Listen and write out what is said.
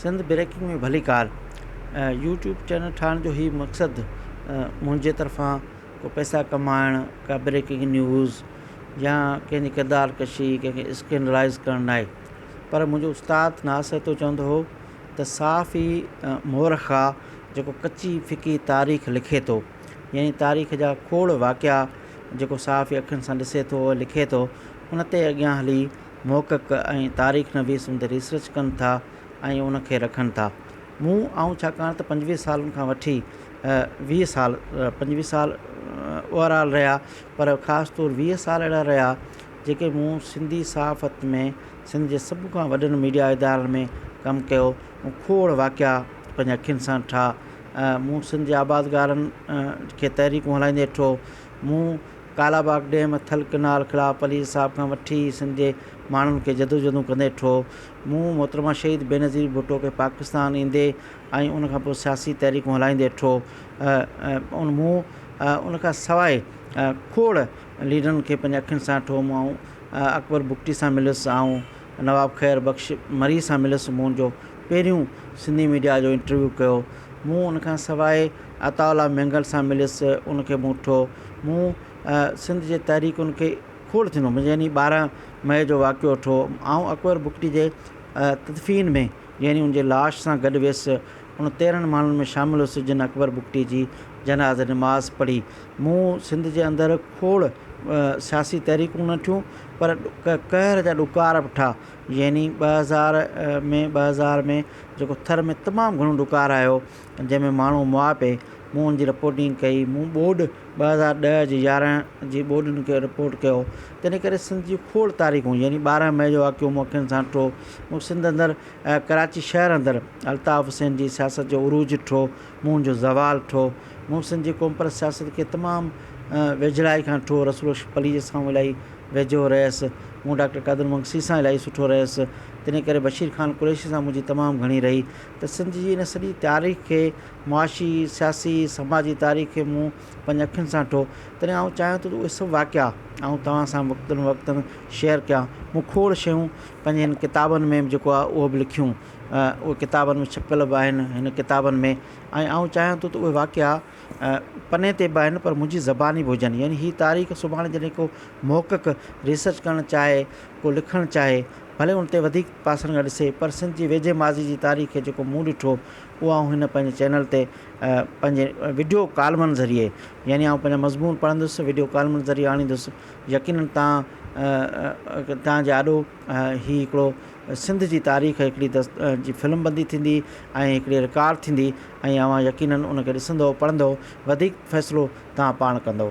Sindh breaking ۾ ڀليڪار YouTube channel ٺاهڻ جو هي مقصد منهنجي طرفان ڪو پئسا ڪمائڻ ڪا بريڪنگ نيوز يا ڪنهن جي ڪردار ڪشي ڪنهن کي اسڪينڊلائز ڪرڻ ناهي پر منهنجو استاد ناصحتو چوندو هو ته صاف ئي مورخ آ جيڪو ڪچي ڦڪي تاريخ لکي ٿو يعني تاريخ جا کوڙ واقعا جيڪو صاف ئي اکين سان ڏسي ٿو لکي ٿو ان تي اڳيان هلي محقق ۽ تاريخ نويس ان تي ريسرچ ڪن ٿا ۽ ان کي رکن ٿا. مون، آئون ڇاڪاڻ ته پنجويهه سالن کان وٺي ويهه سال، پنجويهه سال اوور آل رهيا پر خاص طور ويهه سال اهڙا رهيا جيڪي مون سنڌي صحافت ۾ سنڌ جي سڀ کان وڏن ميڊيا ادارن ۾ ڪم ڪيو، مون کوڙ واقعا پنهنجي اکين سان ڏٺا، مون سنڌ جي آبادگارن کي تحريڪون هلائيندي ڏٺو، مون ڪالاباغ ڊيم، ٿل ڪئنال خلاف پليز صاحب کان وٺي سنڌ جي ماڻهن کي جدوجهدون ڪندي ڏٺو. مون محترمه شهيد بينظير ڀٽو کي پاڪستان ايندي ۽ ان کان پوء سياسي تحريڪون هلائيندي ڏٺو. مون ان کان سواء کوڙ ليڊرن کي پنهنجي اکين سان ڏٺو. مون اڪبر بگٽي سان مليس. آئون. نواب خير بخش مري سان ملس مون جو پهريون سنڌي ميڊيا جو انٽرويو ڪيو مون ان کان سواء عطاء الله مينگل سان ملس ان کي مون ٺو مون سنڌ جي تحريڪن کي کوڙ ٿيندو مون يعني ٻارهن مئي جو واقعو ٺو آئون اڪبر بگٽي جي تدفين ۾ يعني ان جي لاش سان گڏ ويس ان تيرهن ماڻهن ۾ شامل هيس جن اڪبر بگٽي جي جنازي نماز پڙهي. مون سنڌ جي اندر کوڙ سياسي تحريڪون نه ٺهيون پر قهر جا ڏڪار به ٺاهه يعني ٻه هزار ۾ ٻه هزار ۾ جيڪو ٿر ۾ تمام گهڻو ڏڪار آيو جنهن ۾ ماڻهو مئا پئي مون ان جي رپورٽنگ ڪئي مون ٻوڏ ٻه هزار ڏهه جي يارهن جي ٻوڏن کي رپورٽ ڪيو تنهن ڪري سنڌ جي کوڙ تاريخون يعني ٻارهن مئي جو واقعو مون اکين سان ڏٺو مون سنڌ اندر ڪراچي شهر اندر الطاف حسين جي سياست جو عروج ٺھو، مون جو زوال ٺھو. محسن جي قومپرست سياست کي تمام ويجھڙائي کان ٺھو، رسول بخش پليجي سان آئون الاھي ويجھو رھيس، مون ڊاڪٽر قادر مگسي سان الاھي سٺو رھيس، تنھن ڪري بشير خان قريشي سان منھنجي تمام گھڻي رھي ته سنڌ جي ان سڄي تاريخ کي معاشي، سياسي، سماجي تاريخ کي مون پنهنجي اکين سان ڏٺو، تڏهن آئون چاهيان ٿو ته اهي سڀ واقعا آئون توهان سان وقتن فوقتن شيئر ڪيان. مون کوڙ شيون پنهنجي هن ڪتابن ۾ جيڪو آهي اهو به لکيون. اهي ڪتابن ۾ ڇپيل به آهن هن ڪتابن ۾ ۽ آئون چاهيان ٿو ته اهي واقعا پني تي به آهن پر منهنجي زباني به هجن يعني هي تاريخ سڀاڻي جڏهن ڪو محقق ريسرچ ڪرڻ چاهي ڪو لکڻ چاهي ڀلي ان تي وڌيڪ پاسن کان ڏسي پر سنڌ جي ويجهي ماضي جي تاريخ کي جيڪو مون ڏٺو اهو آئون هن پنهنجي چينل تي پنهنجي وڊيو ڪالمن ذريعي يعني آئون پنهنجا مضمون پڙهندس وڊيو ڪالمن ذريعي آڻيندس يقينن تان تان جي آڏو هي هڪڙو سنڌ جي تاريخ هڪڙي دس جي فلم بندي ٿيندي ۽ هڪڙي رڪارڊ ٿيندي ۽ اوهان يقينن ان کي ڏسندو پڙهندو وڌيڪ فيصلو تان پاڻ ڪندو.